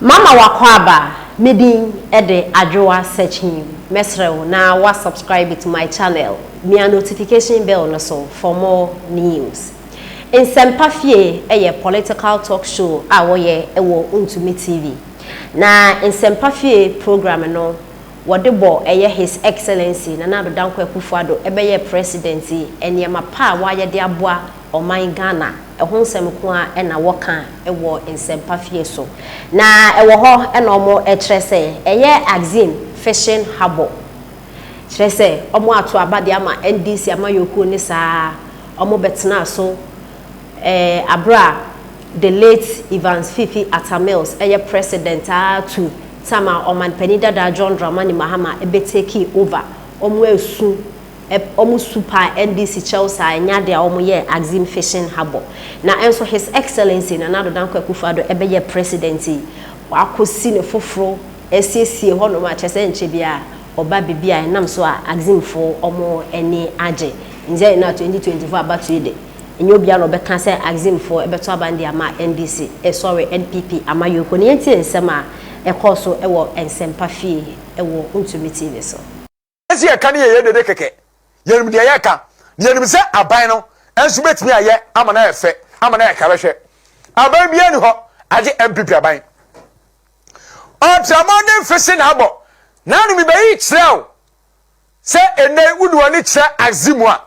Mama w'akwaaba me din de Adwoa Sekyim mɛsrɛ wo na wa subscribe to my channel mia notification bell no so for more news Nsɛmpa fie yɛ political talk show a wɔyɛ wɔ Ntumi TV na Nsɛmpa fie program no wɔde bɔ ɛyɛ His Excellency Nana Addo Dankwa Akufo-Addo ɛbɛyɛ President yi nneɛma pa a wayɛ de aboa ɔman Ghana ɛho nsɛm nko ara na wɔka wɔ nsɛmpa fie so. Na ɛwɔ hɔ na wɔkyerɛ sɛ ɛyɛ Axim fishing harbour. Kyerɛ sɛ wɔato aba de ama NDC amanyɔkuo ne saa ara wɔbɛtenaa so ɛɛ berɛ a the late Evans Fifi Atta Mills ɛyɛ president ara to time a ɔmanpanin dada John Dramani Mahama bɛtekii over wɔn ɛresu Ep, wɔn su paa NDC kyɛw saa ɛnyɛ ade a wɔn yɛɛ Axim Fishing Harbour. Na ɛnso His Excellency Nana Addo Dankwa Akufo Addo ɛbɛyɛɛ President yi, w'akɔ si ne foforo asiesie hɔ nom a kyerɛ sɛ ɛnkyɛ biara ɔba bibi a ɛnam so a Axim foɔ wɔn ani agye. Nzeɛ yɛn a 2024 abatoɔ yi de, ɛnyɛ obiara na ɔbɛka sɛ Axim foɔ ɛbɛto aba no de ama NDC, eh sorry NPP ama Yoko. Na yɛntie nsɛm a ɛkɔɔ so ɛwɔ Nsempa fie ɛwɔ Ntumi TV so. Wiase a yɛka no yɛ yɛn dede kɛkɛ. Yɛnim deɛ yɛka, na yɛnim sɛ aban no nso bɛtumi ayɛ ama no ayɛ fɛ, ama no ayɛ kɛrɛhwɛ. Aban biara nni hɔ agye NPP aban. Ɔtramɔ ne mfese na abɔ n'ano mebɛyi kyerɛ wo sɛ ɛnɛ wode w'ani kyerɛ axe mu a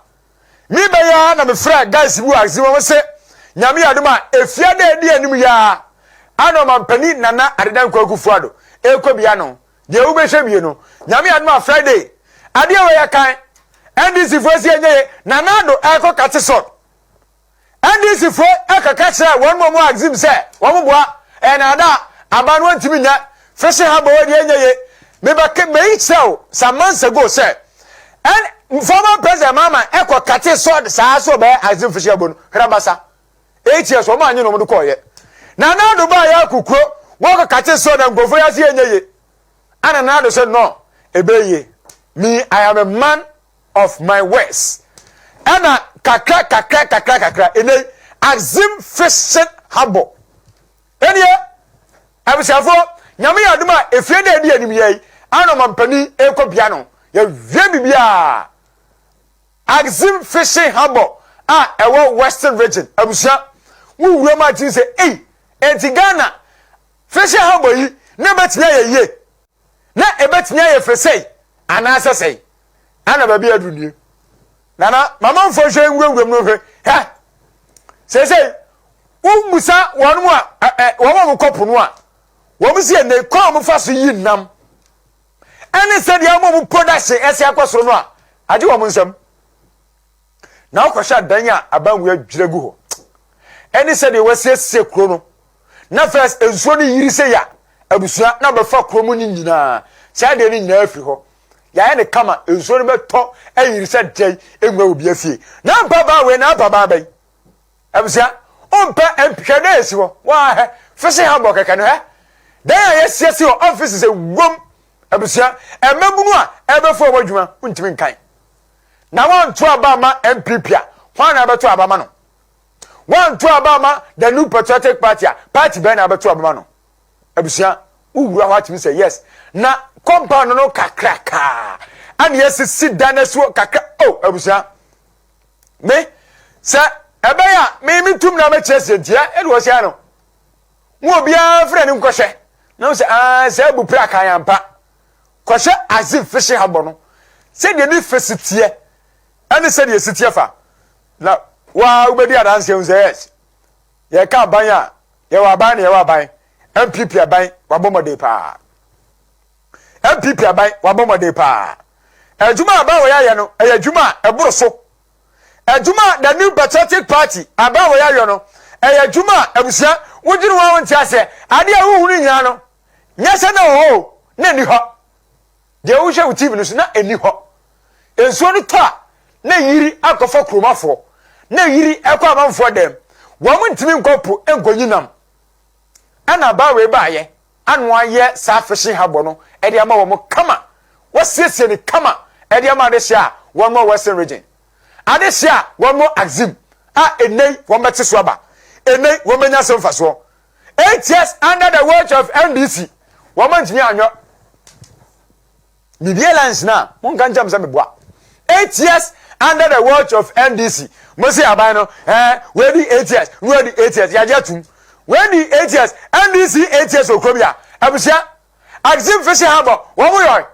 mebɛyɛ ara na mefrɛ guys bi wɔ axe mu ɔmo se nyame yɛ adom a efia dɛ ɛdi anim yɛ ara ana ɔmampanin nana adedan kwaku fuado ɛkɔ bia no Deɛ wobɛhwɛ wie no, Nyame adom a Friday, adeɛ wei ɛkan, NDC foɔ si ɛnyɛ ye, Nana Addo ɛrekɔ Katesson. NDC foɔ ɛkaka kyerɛ wɔn mu ɔmo axim sɛ wɔn boa, ɛyɛ naadaa, aban no wɔntumi nyɛ, Fishing Harbour wei deɛ ɛnyɛ ye, me bɛ ke, meyi kyerɛ wo some months ago sɛ, N, former President Mahama ɛkɔ Katesson saa so ɔbɛyɛ axim Fishing Harbour no, hwɛ na basa. eight years wɔn anyi na wɔn de kɔɔyɛ na nana ado baa yɛ akɔ kuro wɔkɔ kakye sɛ ɔna nkurɔfoɔ yɛ ase yɛ nyɛ ye ana nana ado sɛ no ebe ye me i am a man of my words ɛna kakra kakra kakra kakra ɛnɛ axim fishing harbour ɛneɛ abusuafoɔ nyame yɛ adom a efie dɛ ɛdi anim yɛ yi ana ɔmampanin ɛkɔ bia no yɛwie biribiaa Axim Fishing Harbour a ɛwɔ Western Region abusua wo wuram a tumi sɛ ei, enti Ghana Fishing Harbour yi na ɛbɛtumi ayɛ yie? Na ɛbɛtumi ayɛ fɛ sɛi anaasɛ sɛi? Ana baabi a aduru nie? Nana, mamanfoɔ nhwɛ nwura wuram no nhwɛ, hɛ! Seesei, wobusa wɔn mu a, ɛ, ɛ, wɔn a wɔkɔ po no a, wɔn si ɛnɛ kwan a wɔfa so yi nam. ɛne sɛdeɛ wɔn a wɔn production ɛsi akɔ soro no a agye wɔn nsam na wɔkɔhwɛ adan a abanwia dwira gu hɔ ɛne sɛdeɛ wɔasiesie kuro no na first nsuo no yiri sɛ ya abusua na bɛfa kuro mu no nyinaa saa deɛ no nyinaa firi hɔ yɛayɛ ne kama nsuo no bɛtɔ ayiri sɛ dɛn ɛnwa obi afie na mpabaa wei na mpabaa bɛn Abusua, wo mpɛ MP hwɛ dɛn esi hɔ waa hɛ fese ha bɔ kɛkɛ no hɛ dɛn a yɛ siesie wɔ offices ɛwom abusua ɛmɛbunu a ɛbɛ fo ɔbɔ dwuma wo ntimi nkan na wa nto aba ma MPP a hwan na abɛto aba ma no wa nto aba ma the new patriotic party a party bɛn na abɛto aba ma no abusua wo wura hɔ atimi sɛ yes na compound no kakra kaa ɛne yɛ sisi dan asuo kakra oh abusua me sɛ ɛbɛyɛ a me metum na mɛkyerɛ sɛ ntia ɛde wɔ sɛ no mu obiara frɛ ne nkɔhyɛ na wo sɛ aa sɛ abu pra kan ampa kɔhyɛ aze fese ha bɔ no sɛdeɛ ne fese teɛ ɛne sɛdeɛ si teɛ fa na waa wobɛdi adanseɛ hu sɛ yes yɛka aban a yɛwɔ aban na yɛwɔ aban mpp aban wabɔ mmɔden paa NPP aban, wɔabɔ mmɔden paa. Adwuma a Abaawoyɛ ayɛ no, ɛyɛ adwuma a ɛboro so. Adwuma a The New Patriotic Party, Abaawoyɛ ayɔ no, ɛyɛ adwuma a abusua, wodwene ho a wonte aseɛ. Adeɛ a wohunu nyinaa no, nyɛ sɛ na ɛwɔ hɔ o, na ɛnni hɔ. Deɛ wohwɛ wo TV no so, na ɛnni hɔ. Nsuo no tɔ a, na ɛyiri akɔfa kuromafoɔ, na ɛyiri ɛkɔ amanfoɔ dam. Wɔn ntumi nkɔ po nkɔnyi nam. Ɛna Abaawoyɛ baayɛ. ano ayɛ saa fishing habɔ no de ama wɔn kama, wɔasiesie no kama de ama adehye a wɔmmɔ Western Region. Adehye a wɔmmɔ Axim a ɛnnɛ yi wɔbɛte so aba, ɛnnɛ yi wɔbɛnya so mfasoɔ. Eight years under the watch of MDC, wɔantumi anyɛ. Biribiara nsina a, monka nkyerɛ me sɛ meboa. Eight years under the watch of NDC. Mo se aban no, eh, wɔadi eight years, na wɔadi eight years, yɛagye atum. Wɔadi eight years, NDC eight years wɔ kuro bi a, abusua, Axim Fishing Harbour, wɔn yɔe.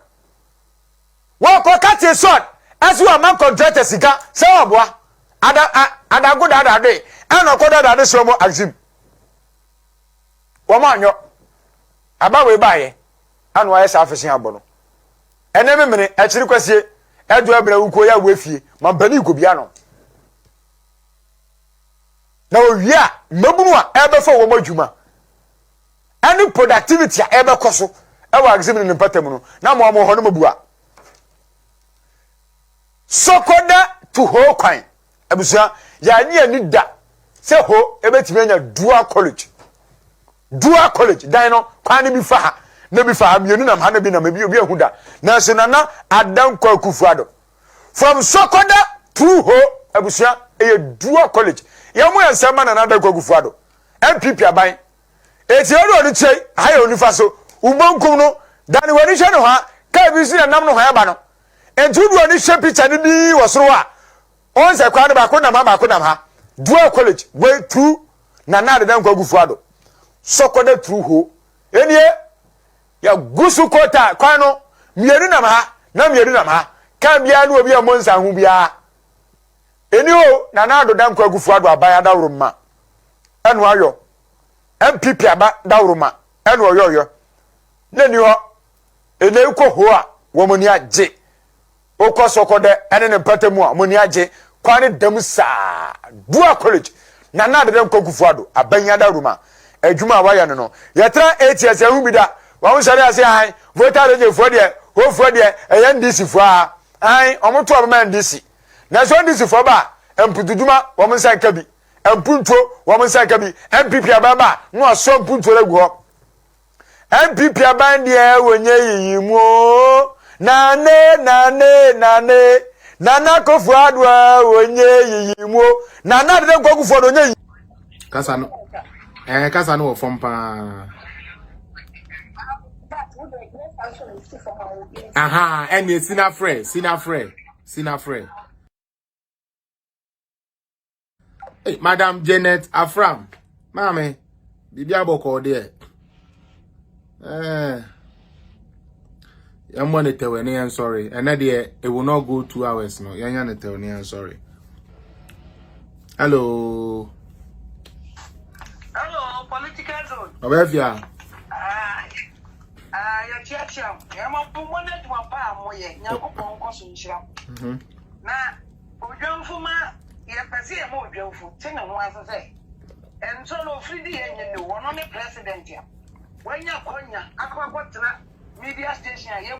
Wɔkɔ kate sɔd, ɛso wɔama kɔntrata sika sɛ wɔboa. Ada, a, adago dadade, ɛna ɔkɔ dadade sɛ wɔn Axim. Wɔn anyɔ. Aba wei baayɛ. Ano ayɛ saa afe se abɔ no. Ɛnɛ me mene, akyiri kwasie. Ɛdɔ ɛbrɛ wo nkuo yɛ awo afie. Ma mpanin kɔ bia no. Na owie a, mmabunu a ɛbɛfa wɔn adwuma ɛne productivity a ɛbɛkɔ so ɛwɔ agzim ne ne mpatamu no, na mo a mo hɔ no mo bua. Sɔkɔda tu hoo kwan. Abusua, yɛannye anni da sɛ hɔ ebetumi anya dual college. Dual college dan no, kwan no bi fa ha, na bi fa ha, mmienu nam ha na bi nam ebi, obi ahu da. Nanso Nana Adan Kwaku Fuado, from Sɔkɔda through Ho, abusua, ɛyɛ dual college. Yɛn mo yɛ nsɛm ma Nana Adan Kwaku Fuado, NPP aban. Eti ɛwɔ ɔde kyerɛ yi, ha yɛ onifa so, wo benkum no, dane w'ani hwɛ nohoa, kaa bi nso na ɛnam nohoa ɛba no. Enti wo dodoɔ no hwɛ picture no bi wɔ soro hɔ a, ɔn sɛ kwan no baako nam ha baako nam ha. Dual college wei through Nana Adeda Nkwagufu Ado. Sɔkɔda through ho. Enie, yɛ gu so kɔ ta kwan no mmienu nam ha na mmienu nam ha. Car biara ne obi a mmɔ nsa ho biara. Eni o, Nana Ado Da Nkwagufu Ado aban adaworoma ɛna ayɔ. NPP aba daworoma ɛna ɔyɔɔyɔ. N'ani hɔ. Nnɛ yi kɔ hoo a, wɔn ani agye. Wokɔ Soko dɛ ne ne mpata mu a, wɔn ani agye. Kwan no dam saa. Dua College, Nana Ado Dankwa Akufo-Addo, Abanyada Roma. Adwuma a wɔayɛ no no, yɛtra eight years yɛnhu bi da. Wɔsɔre ara se ae, Volta Regyefoɔ deɛ, hofoɔ deɛ, ɛyɛ NDCfoɔ ara. Ae, wɔto wɔn ma NDC. Nanso NDCfoɔ ba a, mputudwuma, wɔn nsa nka bi. Mpuntuo, wɔn nsa nka bi. NPP aban ba a, na wɔasoa mpuntuo no agu hɔ. NPP aban deɛ wɔnyɛ yiyi mu oo Nane nane nane Nana Akufo Addo a wɔnyɛ yiyi mu oo Nana Dede Nkwakufoɔ no wɔnyɛ yiyi Kasa no ɛɛ kasa no wɔ fam paa Aha ɛnneɛ sinafrɛ sinafrɛ sinafrɛ. Hey, Madam Janet Afram, maame, biribi abɔkɔɔ deɛ. Eh, yɛmmɔ ne tɛwɛ ne yɛn sɔre. Ɛnɛ deɛ, it will not go two hours no. Yɛnyɛ ne tɛw ne yɛn sɔre. Hello. Hello, political zone. Ɔbɛfia. Yɛtiatia, ɛma bumɔ ne adwuma pa a moyɛ, nyankopɔn nkɔ so nhyira. Na Odwamfo ma yɛpɛ sɛ yɛma odwamfo te ne ho ase sɛ ɛnsɔ no ofiri de yɛ nyɛ no. Ɔno ne president a wanya akwanya akɔ akɔtena media station a yɛbɔ.